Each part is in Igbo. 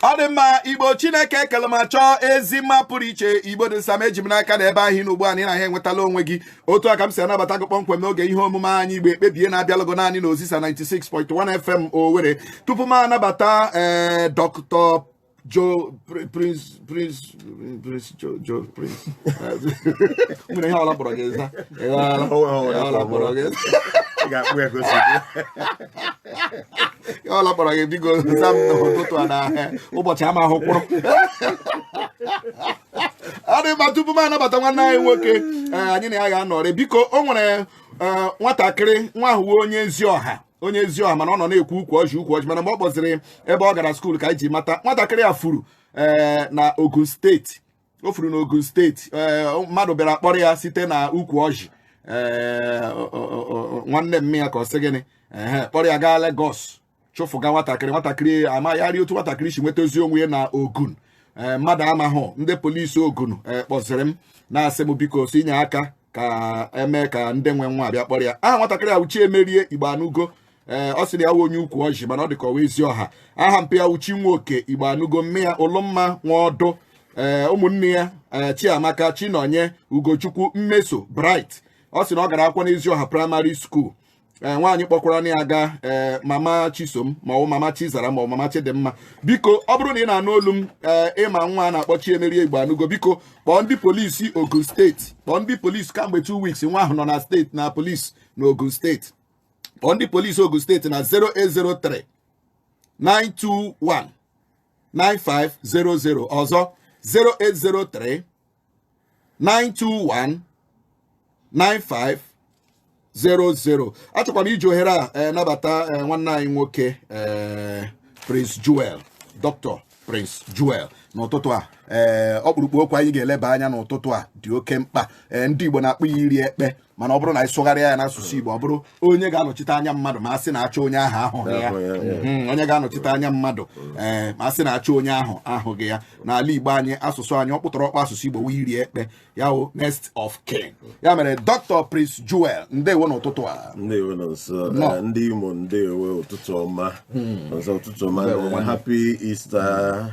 ọ dị mma igbo chineke kele ma chọọ ezi mma pụrụ iche igbo dị nsam eji m n'aka na ebe ahụ ị nọ ugbu a na ị nwetala onwe gị otu a ka m si anabata gị kpọmkwem n'oge ihe omume anyị igbo ekpebie na-abịalụ gị naanị na ozisa 96.1 fm owere tupu m anabata ee eh, dọkịta jo prince Prince Prince Joe Joe Prince nwanne ihe ọla kpọrọ gị eza ịghọọla Ọ nweghị ọla ihe ọla kpọrọ gị eza Ị ga-akpụ ya ka o si dị. ihe ọla kpọrọ gị biko za m n'ụtụtụ a na ụbọchị ama ahụ kwụrụ adị mma tupu m anabata nwanne anyị nwoke ee, anyị na ya ga-anọrị biko o nwere ee, nwatakịrị nwa ahụ wụ onye ezi ọha onye ezi ọha mana ọ nọ na-ekwu ukwu ọjị ukwu ọjị mana mgbe ọ kpọziri ebe ọ gara skuul ka anyị ji mata nwatakịrị a furu ee eh, na Ogun steeti o furu na Ogun steeti ee eh, mmadụ bịara kpọrọ ya site na ukwu ọjị ee eh, nwanne mma ya ka ọ sị gịnị ee kpọrọ ya gaa Lagos chụfụga nwatakịrị nwatakịrị amaghị otu nwatakịrị si nwetazi onwe ya na Ogun ee mmadụ amahụ ndị polisi Ogun kpọziri m na-asị m biko si nye aka ka e mee ka ndị nwe nwa abịa kpọrọ ya aha nwatakịrị a wụ chiemerie igboanụgo ee ọ sị na ya wụ onye ukwu ọjị mana ọ dị ka ọ wụ ezi ọha aha mpa ya wụ chinwoke igboanụgo mma ya ụlọmma nwaọdụ ee ụmụnne ya ee chiamaka chinonye ugochukwu mmeso bright ọ sị na ọ gara akwụkwọ n'ezi ọha praịmarị skuul ee nwaanyị kpọkwara na ya aga ee mama chisom maọbụ mama chizara maọbụ mama chidimma biko ọ bụrụ na ị na-anụ olu m ee ị ma nwa a na-akpọ chiemerie igboanụgo biko kpọọ ndị polisi ogun steeti kpọọ ndị polisi kamgbe 2 weeks nwa ahụ nọ na steeti na polisi na ogun steeti kpọọ ndị polisi Ogun steeti na 0803 921 9500 ọzọ 0803 921 9500 achọkwara m iji ohere a eh, nabata eh, nwanne anyị nwoke eh, Prince Joel Dr. Prince Joel n'ụtụtụ a ee eh, ọkpụrụkpụ okwu anyị ga-eleba anya n'ụtụtụ a dị oke mkpa ee eh, ndị Igbo na-akpọ ya iri ekpe mana ọ bụrụ na anyị sụgharịa ya n'asụsụ Igbo ọ bụrụ onye ga-anọchite anya mmadụ ma a sị na-achọ onye ahụ ahụghị ya hmm, onye ga-anọchite anya mmadụ ee eh, ma a sị na-achọ onye ahụ ahụghị ya n'ala Igbo anyị asụsụ anyị ọkpụtọrọkpụ asụsụ Igbo wụ iri ekpe ya wụ next of kin ya mere Dr. Prince Joel ndewo n'ụtụtụ a ndewo Nonso eh, ndị Imo ndewo ụtụtụ ọma hmm. ọzọ ụtụtụ ọma eh, happy Easter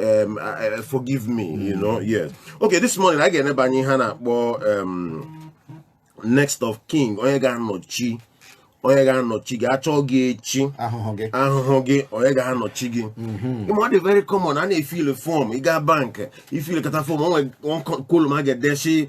um, uh, uh, forgive me you know yes okay this morning anyị ga-eneba anya ihe a na-akpọ um, next of kin onye ga-anọchi onye ga-anọchi gị a chọọ gị echi ahụhụ gị ahụhụ gị onye ga-anọchi gị ị ma ọ dị very common a na-efill form ị gaa bank i fillkata form o nwe column a ga-edesi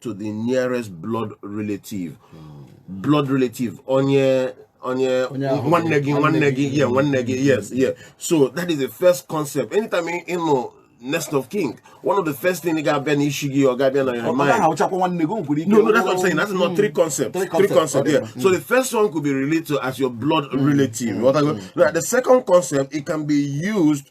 to the nearest blood relative blood relative onye onye Onye ahụ nwanne gị gị, nwanne nwanne gị yeah nwanne gị yes yeah so that is the first concept anytime ị ị nụ next of kin one of the first thing ị ga-abịa n'isi gị ọ ga-abịa na your mind Ọ gaghị awụchakwa nwanne gị o nwekwara ike No, no, that's what I'm saying. That's not three concepts. Three Three, concepts, concepts, okay. yeah. So the first one could be related to as your blood relative. What I go- Now, the second concept, it can be used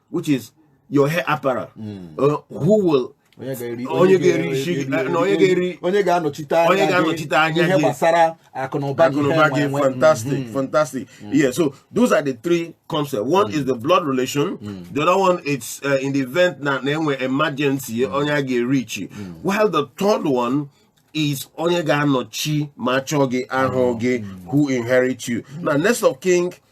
which is your heir apparent hmm. uh, who will onye ga-eri isi na onye ga-eri onye ga-anọchite anya onye ga-anọchite anya ihe gbasara akụnụba gị hmm. fantastic hmm. fantastic yeah so those are the three concepts one is the blood relation the other one is uh, in the event na e nwee emergency onye a ga-erichi while the third one is onye ga-anọchi ma achọọ gị ahụghị who inherit you now next of kin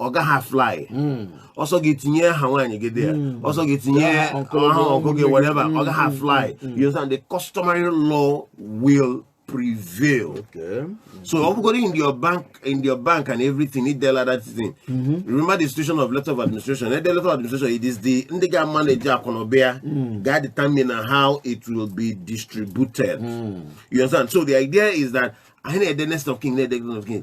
ọ gaghị fly hmm. ọ sọ gị tinye aha nwaanyị gị there hmm. ọ sọ gị tinye aha ọkụ gị whatever ọ gaghị hmm. fly you understand the customary law will prevail okay. so ọ bụgodi in your bank in your bank and everything i dela that thing mm-hmm. remember the institution of letter of administration the letter of administration it is the ndị ga manage akụnụba ya ga determine how it will be distributed you understand so the idea is that ị na-ede next of kin na-ede next of kin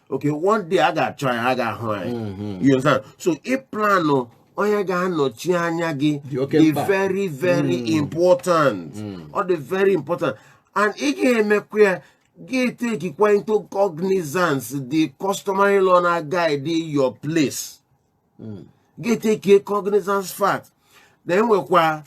okay one day a ga-achọ anyị a gaghị ahụ anyị mm-hmm. you understand so ịplanụ onye ga-anọchi anya gị dị very very mm. important mm. ọ dị very important and ị ga-emekwa ya gị tekikwa into cognizance the customary law na guide your place mm. gị take cognizance fact na e nwekwa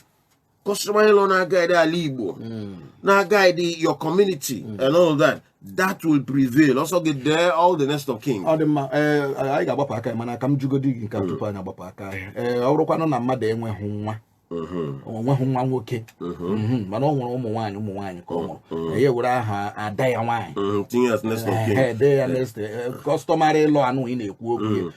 customary law na guide ala Igbo hmm. na guide your community hmm. and all that that will prevail ọ sọ gị dee all the next of kin ọ dị mma eh, anyị ga-agbapụ aka mana ka m jụgodi gị nke hmm. tupu anyị agbapụ aka ahịa eh, ọ bụrụkwanụ na mmadụ enweghị nwa o nweghị nwa nwoke mana o nwere ụmụ nwaanyị ụmụ nwaanyị ka o nwere ya were aha ada ya nwaanyị dee ya next customary law ahụ ị na-ekwu okwu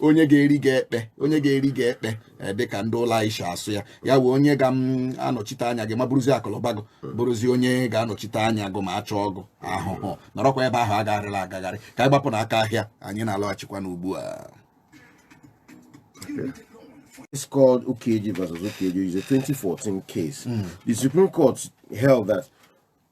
onye ga-eri gị ekpe onye ga-eri gị ekpe e, dịka ndị ụlọ anyị si asụ ya ya wụ onye ga-anọchite anya gị ma buruzi akụlụba gị bụrụzi onye ga-anọchite anya gụ ma achọọ gụ ahụhụ nọrọkwa ebe ahụ agagharịla agagharị ka anyị gbapụ n'aka ahịa anyị na-alọghachikwa n'ugbu a It's called Ukeje versus Ukeje. It's a 2014 case. Mm. The Supreme Court held that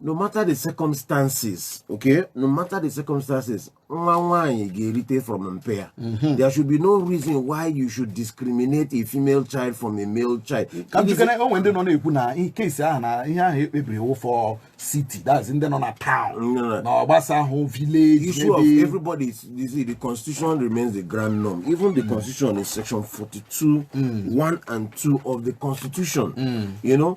no matter the circumstances okay no matter the circumstances nwa nwaanyị ga-erite from mpa ya mm-hmm. there should be no reason why you should discriminate a female child from a male child ka njikere o nwe ndị nọ na-ekwu na case ahụ na ihe ahụ e kpebiri wụ for city that's ndị nọ na town na ọ gbasahụ village issue of everybody is, is the constitution remains the grundnorm even the mm. constitution is section 42 mm. 1 and 2 of the constitution mm. you know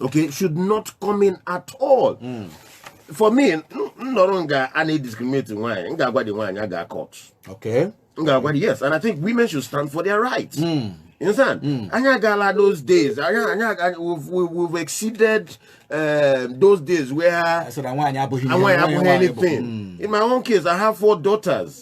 okay should not come in at all mm. for me m nọrọ nga a na-ediscriminate nwaanyị m ga-agwadị nwaanyị a gaa court okay m ga-agwadị yes and i think women should stand for their rights you understand mm. anyị agaala those days anyị anyị we've exceeded uh, those days where nwaanyị abụghị anything mm. in my own case i have four daughters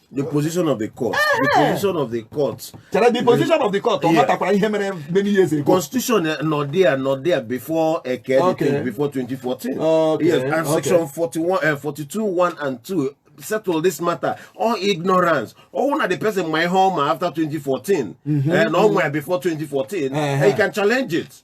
the position of the court the eh. position of the court chere the position of the court ọ matakwara ihe mere many years ago constitution eh, nọ there nọ there before eke eh, okay. before 2014 okay. yes and okay. section 41 uh, 42 1 and 2 settle this matter all ignorance ọwụ na the person ma ihe ọma after 2014 mm -hmm. and all my before 2014 uh -huh. and you can challenge it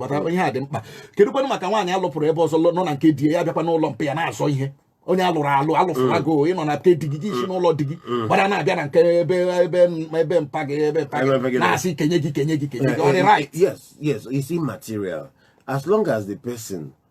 kpata mm. ihe a dị mkpa kedụkwanụ maka nwaanyị a lụpụrụ ebe ọzọ nọ na nke di ya bịakwa n'ụlọ mpa ya na-azọ ihe onye alụrụ alụ alụfụla mm. gị oh, ịnọ na nke di gị gị esi mm. n'ụlọ di gị mm. gbara na-abịa na nke ebe ebe ebe mpa gị ebe mpa gị na-asị kenye gị kenye gị kenye gị ọ dị right yes yes it's immaterial as long as the person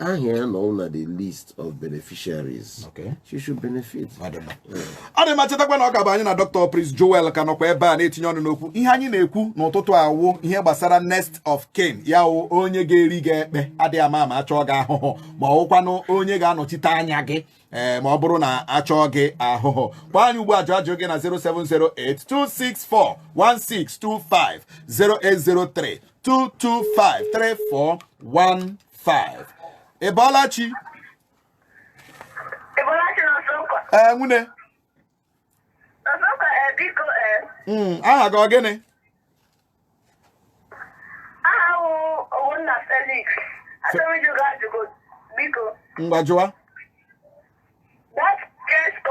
aha ya nọ na the list of beneficiaries okay. she should benefit ọ dị mma chetakwa na ọ ka bụ anyị na Dr. Prince Joel ka nọkwa ebe a na-etinye ọnụ n'okwu ihe anyị na-ekwu n'ụtụtụ a wụ ihe gbasara next of kin ya wụ onye ga-eri gị ekpe adịghị ama ama achọọ gị ahụhụ ma ọ wụkwanụ onye ga-anọchite anya gị ee eh, ma ọ bụrụ na achọọ gị ahụhụ kpọọ anyị ugbu a jụọ ajụjụ gị na 07082641625 0803 225 34 5 ị bọọla chi ee nwune hmm, aha gị ọ gịnị ngwa jụwa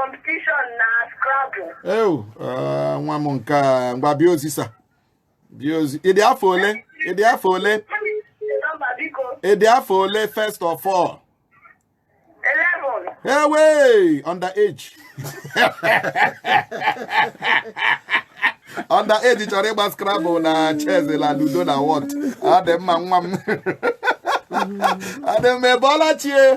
competition na Scrabble. Ewu, eh, nwa m nke a ngwa bịa osisa. bịa ozi ịdị afọ ole ịdị afọ ole ịdị afọ ole first of all ewe under age under age chọrọ ịgba scrabble na chess la ludo na whot ọ dị mma nwa m ọ dị mma ị bọọla chi ee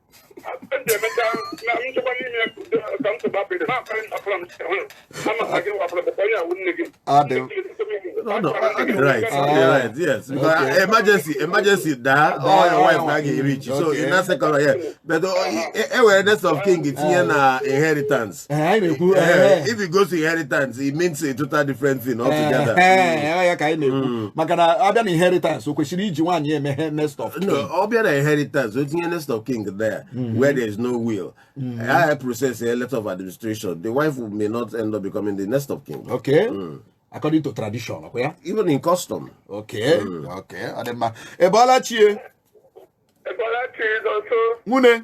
emergency emergency daa ọ your wife na ga-ereach so ị na-asekọrọ ya but e were next of kin tinye na inheritance inheritance. Eh, anyị na-ekwu eh, eh, eh. if it goes to inheritance it means a total different thing altogether. Eh, eh, ya ka anyị na-ekwu Mm. maka na a bịa na inheritance o kwesịrị iji nwaanyị emeghe next of kin. No, a bịa na inheritance o tinye next of kin there where there is no will. I process a letter of administration. The wife may not end up becoming the next of kin. okay according to tradition ọkwa ya Even in custom. okay okay ọ dị mma ị bọọla chi ee ị bọọla chi Nonso, nwune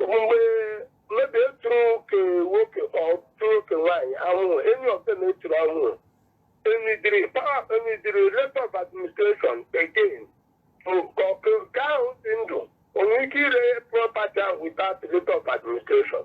mgbe mmebi eturu ke nwoke o turu ke nwaanyị ahụ any of them eturu ahụ e needịrị power e needịrị letter of administration again bụ ka ọkụ ke ahụ dị ndụ o nwere ike ire property ahụ without letter of administration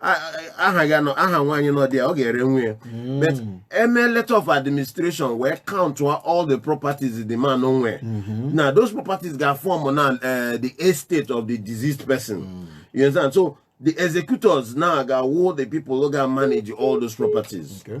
aha ga nọ aha nwaanyị nọ dị ya ọ ga-ere nwa ya but e mee letter of administration wee count all the properties the man nwere now those properties ga form na eh, the estate of the deceased person you understand so the executors now ga-awụ the people who ga manage all those properties Okay.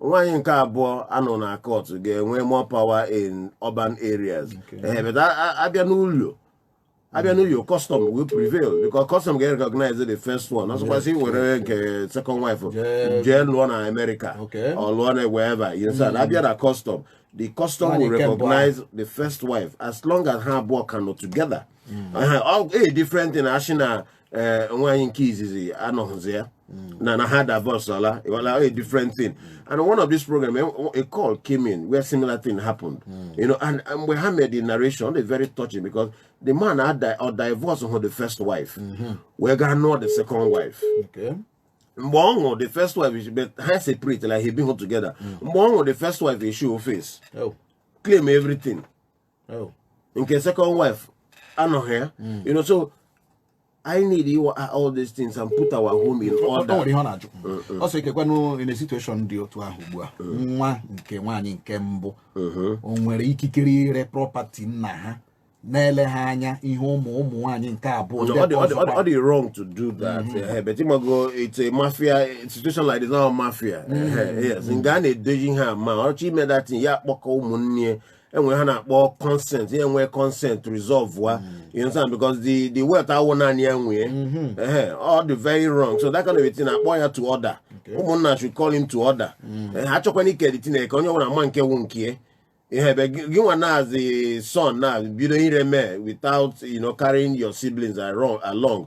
nwaanyị nke abụọ a nụ na court ga-enwe more power in urban areas ee but a- a- abịa n'ụlọ abịa n'ụlọ custom will prevail because custom ga-recognize the first one ọsọkwasị were nke second wife Jee- jee lụọ na America Okay. or lụọ na wherever you understand abịa na custom the custom Nwaanyị will nke mbụ recognize the first wife as long as ha abụọ ka nọ together Aha, ọ- a different thing a sị na ee eh, nwaanyị nke izizi anọghịzi ya hmm. na na ha divorceala wala a different thing and one of this program eh, a call came in where similar thing happened hmm. you know and mgbe ha made the narration ọ dị very touching because the man adivorceghị the first wife hmm. wee gaa nụọ the second wife mgbe ọ nwụrụ the first wife ha separate like ha ebighị together mgbe ọ nwụrụ the first wife e show face oh. claim everything oh. nke second wife anọghị ya hmm. you know so I need you all these things and put our home in order. O nwere ihe ọ na-ajụ ọ sị kekwanụ in a situation dị otu ahụ ugbu a mm. nwa nke nwaanyị nke mbụ mm-hmm. o nwere ikikere ire property nna ha na-ele ha anya ihe ụmụ ụmụ nwaanyị nke abụọ ọ dị wrong to do that mm-hmm. eh, eh, but ịmago it's a mafia situation like this now mafia mm-hmm. eh, yes nga a na-edoji ha ma ọ chọọ ime that ya kpọkọ ụmụnne enwee ihe a na-akpọ consent ya enwee consent resolve wa you understand because the the wealth awụ naanị ya nwe ehe ọ dị very wrong so that kind of a thing a kpọọ ya to order ụmụnna should call him to order Eh, ha chọkwana ike that thing e kee ka onye ọbụla ma nke wụ nke ya. ihe ebe gị gị nwa as the son now bido ire mee without you know carrying your siblings along, along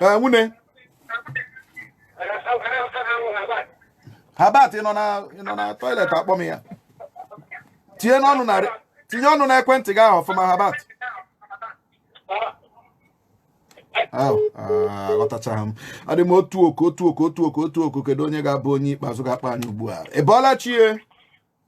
ee nwunye Herbert nọ na nọ na toilet akpọ m ya tinye n'ọnụ na tinye ọnụ na ekwentị gị ahụ ọfụma Herbert ahụ aghọtachaghị m adị m otu oku otu oku otu oku otu oku kedu onye ga-abụ onye ikpeazụ ga-akpọ anyị ugbu a ị bọọla chi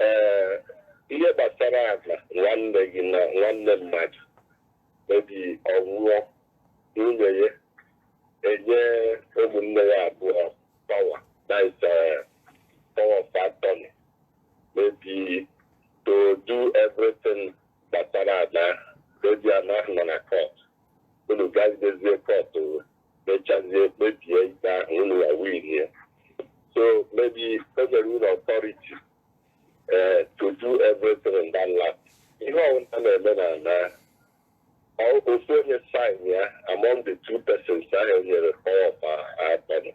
ee ihe gbasara ana nwanne gị na nwanne mmadụ maybe ọ nwụọ nwunye ya enye ụmụnne ya abụọ power that is power of attorney maybe to do everything gbasara ana maybe ana ahụ nọ na court unu gazi jezie court mechazie kpebie ikpe ahụ unu ya win ya so maybe o nyere unu authority eh, to do everything in that land ihe ọbụla na-eme na na ọ- ofu onye sign ya among the two persons ahụ o nyere power of attorney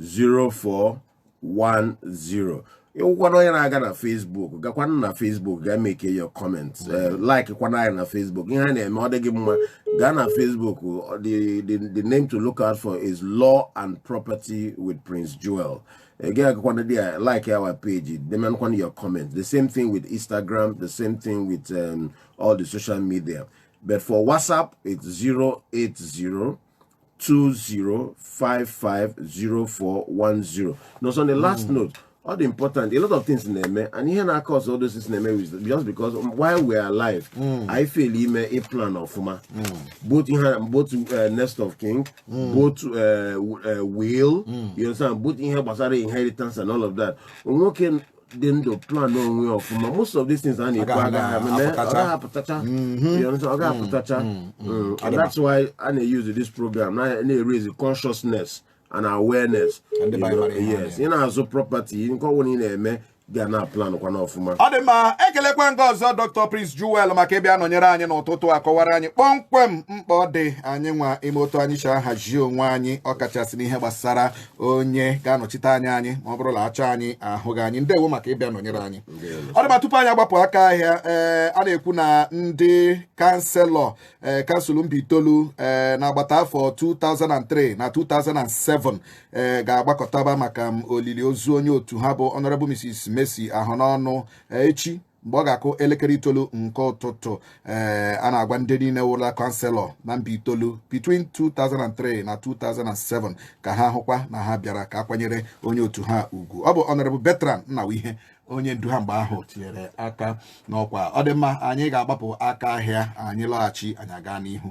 0410 ị wụkwana onye na-aga na Facebook gakwana na Facebook gaa make your comments eh, like kwana anyị na Facebook ihe a na-eme ọ dị gị mma gaa na Facebook the, the, the name to look out for is Law and Property with Prince Joel again agakwana dị ya like our page demekwana your comment the same thing with Instagram the same thing with um, all the social media but for WhatsApp it's 080 08020550410 no so the last mm. note all the important a lot of things na-eme and ihe na-aka ọzọ all those things na-eme is just because while we are alive mm. I feel ime a plan ọfụma mm. both ihe both uh, next of king mm. both uh, uh, will mm. you understand both ihe gbasara inheritance and all of that nwoke dị ndụ plan onwe ya ọfụma most of these things a na-ekwu Agaghị agaghị eme, na- apụtacha. ọ gaghị apụtacha You know, so ọ gaghị apụtacha Mm, and that's why a na-use this program na- na-raise consciousness and awareness Ndị be anyị mara ihe ha yes ị na-azụ property nke ọbụla ị na-eme ga na plan kwana ọfụma ọ dị mma ekelekwa m gị ọzọ Dr Prince Joel maka ịbịa nọnyere anyị n'ụtụtụ a kọwara anyị kpọmkwem mkpa ọ dị anyị nwa ime otu anyị si ahazi onwe anyị ọkachasị n'ihe gbasara onye ga-anọchite anya anyị ma ọ bụrụ na a chọọ anyị ahụghị anyị ndewo maka ịbịa nọnyere anyị ọ dị mma tupu anyị agbapụ aka ahịa ee eh, a na-ekwu na ndị kanselọ ee eh, kansụl Mbaitolu ee eh, n'agbata afọ 2003 na 2007 ee ga-agbakọtaba maka olili ozu onye otu ha bụ Honorable Mrs. Mercy Ahụnọnụ echi mgbe ọ ga-akụ elekere itoolu nke ụtụtụ ee eh, a na-agwa ndị niile wụla kanselọ na Mbaitolu between 2003 na 2007 ka ha hụkwa na ha bịara ka a kwanyere onye otu ha ugwu ọ bụ Honorable Bertrand Nnawuihe onye ndu ha mgbe ahụ tinyere aka n'ọkwa ọ dị mma anyị ga-agbapụ aka ahịa anyị lọghachi anyị aga n'ihu